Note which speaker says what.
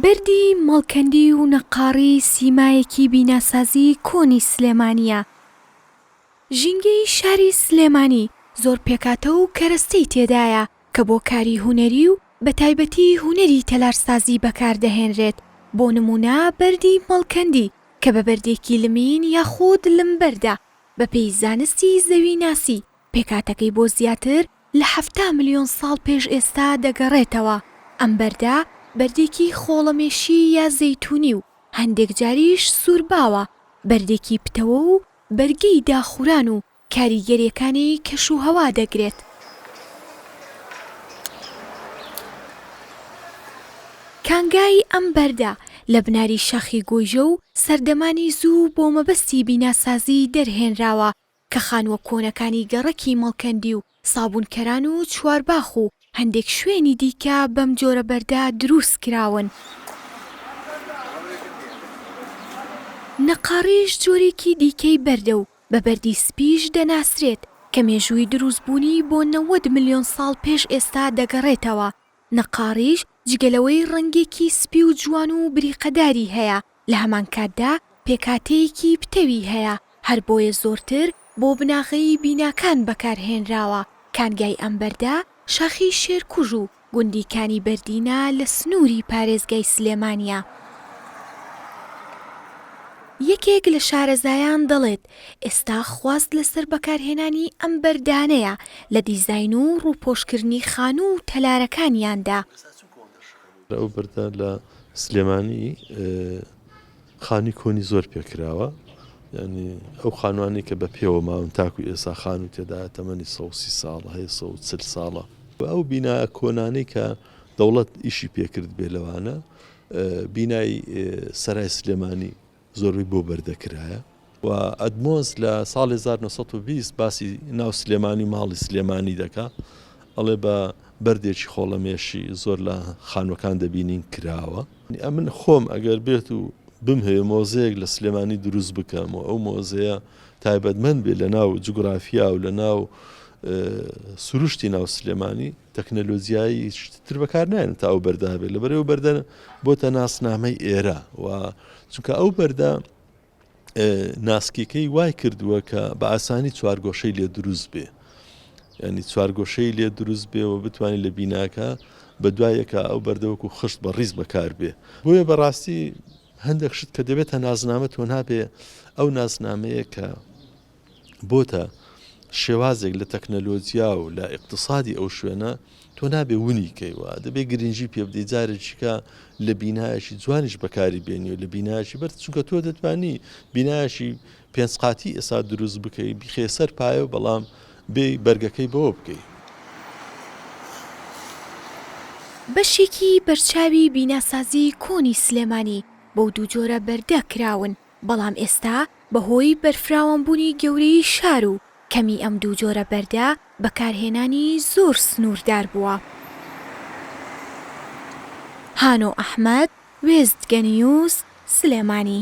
Speaker 1: بەردی مەڵکەندی و نەققاڕی سیمایەکی بیناسازیی کۆنی سلێمانییە. ژینگەی شاری سلێمانی زۆر پێکهاتە و کەرەستەی تێدایە کە بۆ کاری هونەری و بەتایبەتی هونەری تەلارسازی بەکار دەهێنرێت، بۆ نموونە بەردی مەڵکەندی کە بە بەردێکی لمین یاخود لمبەردە بەپێی زانستی زەویناسی، پێکهاتەکەی بۆ زیاتر لە حەفتا ملیۆن ساڵ پێش ئێستا دەگەڕێتەوە، ئەم بەردە بەردێکی خۆڵەمێشی یا زەیتوونی و هەندێک جاریش سوور باوە، بەردێکی پتەوە و بەرگەی داخوران و کاریگەریەکانی کەشوهەوا دەگرێت. کانگای ئەم بەردە لە بناری شاخی گۆیژە و سەردەمانی زوو بۆ مەبەستی بیناسازی دەرهێنراوە کە خانووە کۆنەکانی گەڕەکی مەڵکەندی و سابوونکەران و چوارباخ و هەندێک شوێنی دیکە بەم جۆرە بەردە درووست کراون. نەقاڕیش جۆرێکی دیکەی بەردە و بە بەردی سپیش دەناسرێت، کە مێژووی درووستبوونی بۆ نەوەد ملیۆن ساڵ پێش ئێستا دەگەڕێتەوە، نەقاڕیش جگە لەوەی ڕەنگێکی سپی و جوان و بریقەداری هەیە، لە هەمان کاتدا پێکهاتەیەکی پتەوی هەیە، هەر بۆیە زۆرتر بۆ بناغەی بیناکان بەکارهێنراوە، کانگای ئەم بەردە شاخی شێرکوژ و گوندی کانی بەردینە لە سنووری پارێزگای سلێمانییە. یەکێک لە شارەزایان دەڵێت، ئێستا خواست لەسەر بەکارهێنانی ئەم بەردانەیە لە دیزاین و ڕووپۆشکردنی خانوو و تەلارەکانیاندا.
Speaker 2: ئەو بەردە لە سلێمانی خانووی کۆنی زۆر پێ کراوە، یانی ئەو خانووانەی کە بە پێوە ماون تاکوو ئێستا خانوو تێدایە تەمەنی سەد و سی ساڵ هەیە، سەد و چل ساڵە. ئەو بینا کۆنانەی کە دەوڵەت ئیشی پێ کردبێ لەوانە بینای سەرای سلێمانی، زۆربەی بۆ بەر دەکرایە. و ئەدمۆس لە ساڵی هەزار و نۆ سەد و بیست باسی ناو سلێمانی و ماڵی سلێمانی دەکا ئەڵێ بە بەردێکی خۆڵەمێشی زۆر لە خانووەکان دەبینین کراوە. ئەمن خۆم ئەگەر بێت و بمهەوێ مۆزەیەک لە سلێمانی دروست بکەم و ئەو مۆزەیە تایبەتمەند بێ لە ناو جوگرافیا و لە ناو سروشتی ناو سلێمانی تەکنەلۆجیایی تر بەکار نایەن تا ئەو بەردە هەبێت لەبەر ئەو بەردە بۆتە ناسنامەی ئێرە و چونکە ئەو بەردە ناسکیەکەی وای کردووە کە بە ئاسانی چوارگۆشەی لێ دروست بێ ینی چوارگۆشەی لێ دروست بێ و بتوانین لە بیناکە بە دوایەکە ئەو بەردەوەکو خشت بە ڕیز بەکار بێ بۆیە بەڕاستی هەندێک شت کە دەبێتە نازنامە تۆ نابێ ئەو نازنامەیە کە بۆتە شێوازێک لە تەکنەلۆجیا و لە ئیقتسادی ئەو شوێنە، تۆ نابێ ونی کەی و دەبێ گرنگی پێ بدەی، جارێکیکە لە بینایەکی جوانیش بەکاری بێنی و لە بینایەکی بەرز، چونکە تۆ دەتوانی بینایەکی پێنج قاتی ئێستا دروست بکەی، بیخەیە سەر پایە و بەڵام بێی بەرگەکەی بەوە بکەی.
Speaker 1: بەشێکی بەرچاوی بیناسازیی کۆنی سلێمانی بەو دوو جۆرە بەردە کراون، بەڵام ئێستا بەهۆی بەرفراوانبوونی گەورەیی شار و کەمی ئەم دوو جۆرە بەردە بەکارهێنانی زۆر سنووردار بووە. هانۆ ئەحمەد، وێستگەنیوز، سلێمانی.